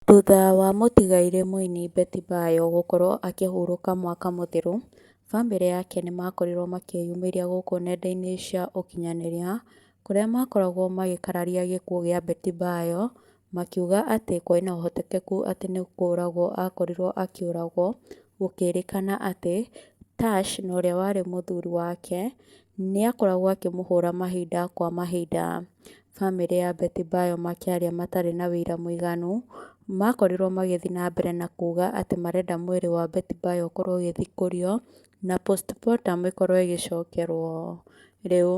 Thutha wa mũtigairĩ mũini Betty Bayo gũkorwo akĩhurũka mwaka mũthiru, bamĩrĩ yake nĩmakorirwo makĩyumĩria gũkũ nenda-inĩ cia ũkinyanĩria kũrĩa makoragwo magĩkararia gĩkuũ gĩa Betty Bayo makiuga atĩ kũrĩ na ũhotekeku atĩ nĩ kũragwo akorirwo akĩũragwo gũkĩrĩkana atĩ Tash na ũrĩa warĩ mũthuri wake nĩakoragwo akĩmũhũra mahinda kwa mahinda. famĩlĩ ya Beti Mbayo makĩaria matarĩ na ũira mũiganu, makorirwo magĩthiĩ na mbere na kuga atĩ marenda mwĩrĩ wa Beti Mbayo ũkorwo ũgĩthikũrio na postmortem ĩkorwo ĩgĩcokerwo. Rĩu,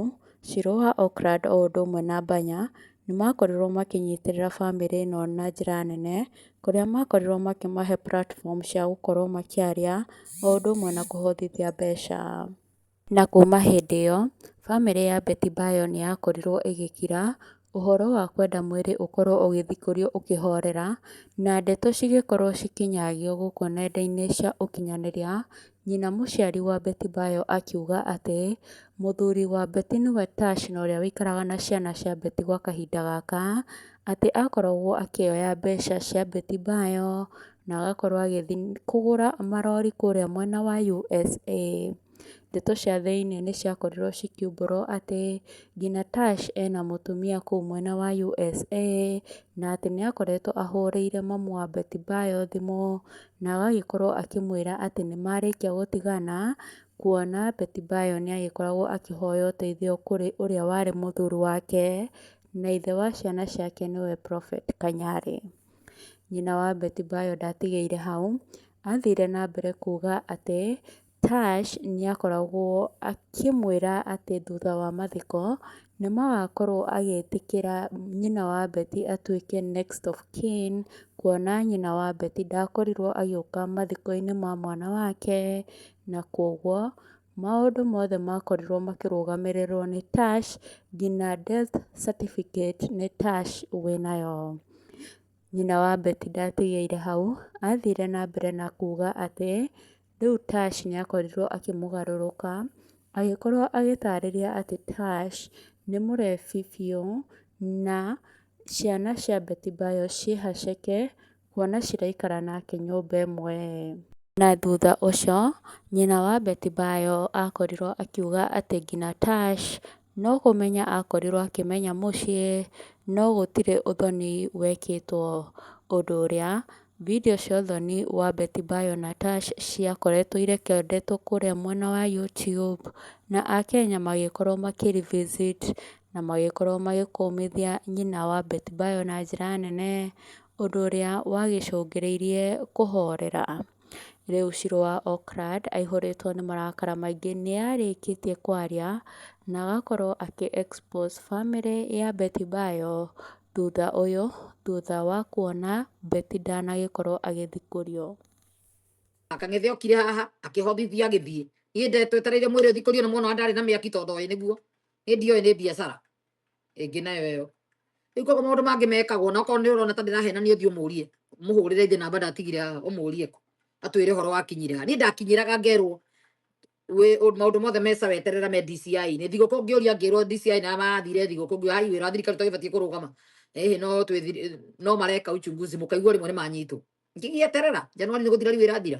Shilowa Okland o ũndũ ũmwe na Banya nĩ makorirwo makĩnyitĩrĩra famĩlĩ ĩno na njĩra nene, kũrĩa makorirwo makĩmahe platform cia gũkorwo makĩaria o ũndũ ũmwe na kũhotithia mbeca. Na kuuma hĩndĩ ĩyo, famĩlĩ ya Beti Bayo nĩ yakorirũo ĩgĩkira, ũhoro wa kwenda mwĩrĩ ũkorũo ũgĩthikũrio ũkĩhorera, na ndeto cigĩkorũo cikĩnyagio gũkũ nenda-inĩ cia ũkinyanĩria, nyina mũciari wa Beti Bayo akiuga atĩ, Mũthuri wa Beti nĩwe Tash na ũrĩa ũikaraga na ciana cia Beti gwa kahinda gaka, atĩ aakoragwo akĩoya mbeca cia Beti Bayo na agakorwo agĩthi kũgũra marori kũrĩa mwena wa USA. Ndeto cia thĩiniĩ nĩ ciakorirwo cikiumbũrwo atĩ nginya Tash ena mũtumia kũu mwena wa USA. Na atĩ nĩ akoretwo ahũrĩire mamu wa Betty Bayo thimũ na agagĩkorwo akĩmwĩra atĩ nĩ marĩkia gũtigana. Kuona Betty Bayo nĩ agĩkoragwo akĩhoya ũteithio kũrĩ ũrĩa warĩ mũthuri wake na ithe wa ciana ciake nĩwe Prophet Kanyari. Nyina wa Beti Mbayo ndaatigire hau, aathire na mbere kuuga atĩ Tash nĩ aakoragwo akĩmwĩra atĩ thutha wa mathiko nĩ magakorũo agĩtĩkĩra nyina wa Beti atuĩke next of kin, kuona nyina wa Beti ndaakorirũo agĩũka mathiko-inĩ ma mwana wake, na kwoguo... Maũndũ mothe makorirwo makĩrũgamĩrĩrwo nĩ Tash nginya death certificate nĩ Tash wĩnayo. Nyina wa Betty ndatigeire hau, athire na mbere na kuga atĩ rĩu Tash nĩ akorirwo akĩmũgarũrũka, agĩkorwo agĩtarĩria atĩ Tash nĩ mũrebi biũ na ciana cia Betty Bayo ciĩhaceke. Kuona ciraikara nake nyũmba ĩmwe. Na thutha ũcio, nyina wa Beti-bayo aakorirũo akiuga atĩ nginya Tash, no kũmenya aakorirũo akĩmenya mũciĩ, no gũtirĩ ũthoni wekĩtwo. Ũndũ ũrĩa, video cia ũthoni wa Beti-bayo na Tash ciakoretwo irekondetwo kũrĩa mwena wa YouTube, na Akenya magĩkorũo makĩ-revisit na magĩkorũo magĩkũmithia nyina wa Beti-bayo na njĩra nene. Ũndũ ũrĩa wagĩcũngĩrĩirie kũhoorera. Rĩu Shirũ wa Oakland aihũrĩtwo nĩ marakara maingĩ nĩarĩkĩtie kwaria na agakorwo akĩ expose famĩlĩ ya Betty Bayo thutha ũyũ thutha wa kuona Betty ndanagĩkorwo agĩthikũrio. Aka ng'ethe okire haha akĩhothithia agĩthiĩ. Niĩ ndetwetereire mwĩrĩ ũthikũrio nĩ mwona ndarĩ na mĩaki tondũ oĩ nĩguo. Niĩ ndioĩ nĩ biacara. ĩngĩ nayo ĩyo rĩu koguo maũndũ mangĩ mekagwo na okorwo nĩ ũrona ta ndĩrahenania ũthiĩ ũmũrie mũhũrĩre ithe namba ndatigire haha ũmũrie ko atwĩre ũhoro wakinyire ha niĩ ndakinyĩraga ngerwo wĩ- ũ- maũndũ mothe meca weterera me DCI nĩ thigũkũ ngĩũria ngĩrwo DCI na mathire thigũkũ ngĩũria hai wĩra wa thirikari tũgĩbatiĩ kũrũgama ĩhĩ no twĩ thiri- no mareka uchunguzi mũkaigua rĩmwe nĩ manyitwo ngĩgĩeterera Januari nĩ gũthira rĩu ĩrathira